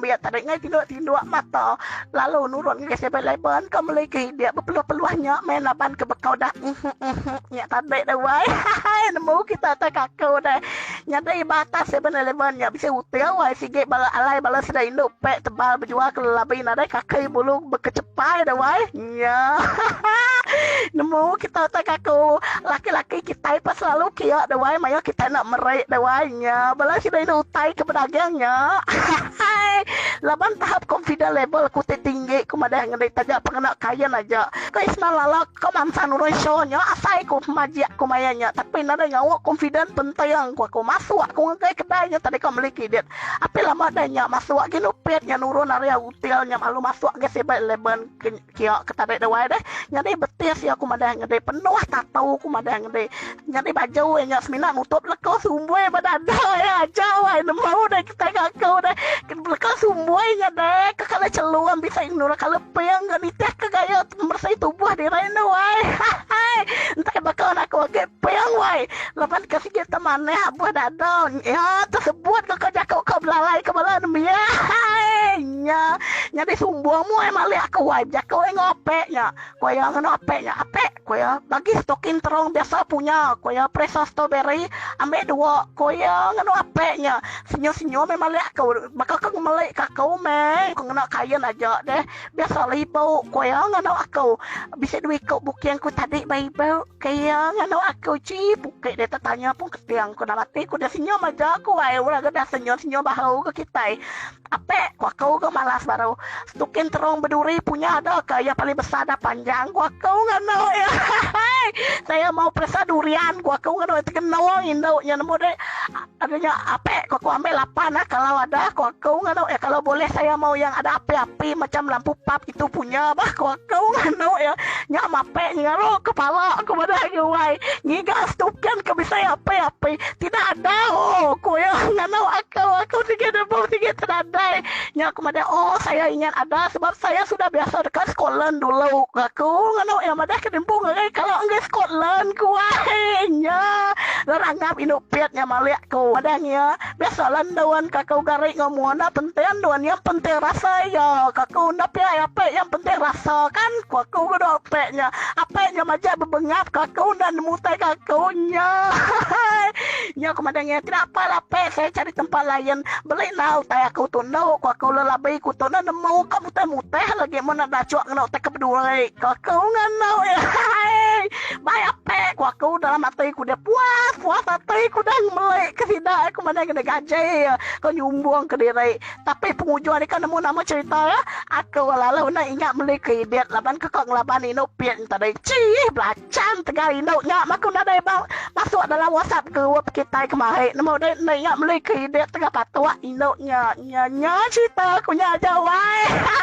Pia tadi ngai tiga tinduk mata lalu nurun ngagai seven eleven ke meli ke hidik bepeluh-peluh nya meh laban ke bekau dah uhh uhh nya tadi deh wai hahaii nemu kita atai kaku deh nyadi ba atas seven eleven nya bisi uting wai sigi bala alai bala sida indu pek tebal bejual ke lelabi nadai kaki bulu bekecepai deh wai. Iya. Nemu kita utai kaku. Laki-laki kitai pun selalu kia deh wai mayuh kitai enda meri deh wai nya. Bala sida indu utai ke bedaging nya. Hahaii. Laban tahap confident level aku ti tinggi ku madah ngendi taja pengena kain aja. Ko Isman lala ko mansa nurun show nya asai ku majik ku maya nya tapi nadai ngau confident penting ku aku. Masuk aku ngagai kedai nya tadi ko meli kidit. Api lama deh nya masuk ginu pit nya nurun ari util nya lalu masuk ngagai 7-Eleven. Kiok ke tadi duai deh nyadi betis iya ku madah nyadi penuh tatu ku madah nyadi nyadi baju iya nya semina nutup leko sumboi ba dada iya ajau ai nemu deh kitai ga aku deh leko sumboi nya deh ke kala chelum bisi nurun kala ping ga nitih ke gaya meresi tubuh diri enda wai hahaii entai baka anak aku agi ping wai laban ke sigi te manah abuh dada iya te sebut ke ko jaku ko belalai ko bala nembiak haii. Nya nyadi sumbung mu ai malih aku ai bejaka wei enggau ape nya ku iya ngena ape nya ape ku iya bagi stokin terong biasa punya ku iya peresa stoberi ambe dua ku iya ngena ape nya senyum senyum ai malih aku baka ke ngemeli ka aku meh ku ngena kain aja deh biasa lah ibu ku iya ngena aku bisi dua iku buking ku tadi ba ibu ku iya ngena aku chii puke deh tetanya pun keting ku dalam ati ku deh senyum aja ku ai orang ke dah senyum senyum bahu ke kitai. Ape ku aku ga malas baru. Setukin terong beduri punya ga ka iya paling besar dah panjang ku aku nganu iya ahaii saya mau peresa durian ku aku nganu iya ti genong indu nya nemu deh anu nya ape ku aku ambil lapan kalau ada ku aku nganu iya kalau boleh saya mau yang ada api-api macam lampu pap. tu punya bah ko aku anu iya nya mape ngeru kepala ku madah agi wai ngiga stuken ke bisai api api tidak ada oh ku iya nganu aku aku sigi nebum sigi tenadai nya ku madah oh saya ingat ada sebab saya sudah biasa deka scotland dulu ku aku nganu iya madah ke nembung agai kala enggai scotland ku wai nya nerangap indu pit nya malik ku madah iya. Biasa lah endu an kaku gari enggau mua enda penting dua nya penting rasa iya kaku enda pia ai apai yang penting rasa kan ku aku ku dau apai nya apai nya majak bebengap ke aku enda nemu utai ke aku nya hahaii nya aku madang iya tidak apa lah apai saya cari tempat lain beli nah utai aku tu endu ku aku lelabi ku tu enda nemu ka mutih mutih lagi mun enda dachuk ngena utai ke beduri ku aku ngandau iya hahaii. Mai ape ku aku dalam ati ku dia puas puas ati ku dah ngemeli ke sida ku meda ngena gaji ko nyumbung ke diri tapi pengujung nika nemu nama cerita ya aku lalu enda ingat meli ke ibit laban ke ko ngelaban inu pin tadi chii belachan tegal indu nya ma ku nadai ba masuk dalam whatsapp group kitai kemari nemu deh enda ingat meli ke ibit tengah patok indu nya nya nya cerita ku nya aja wai hai.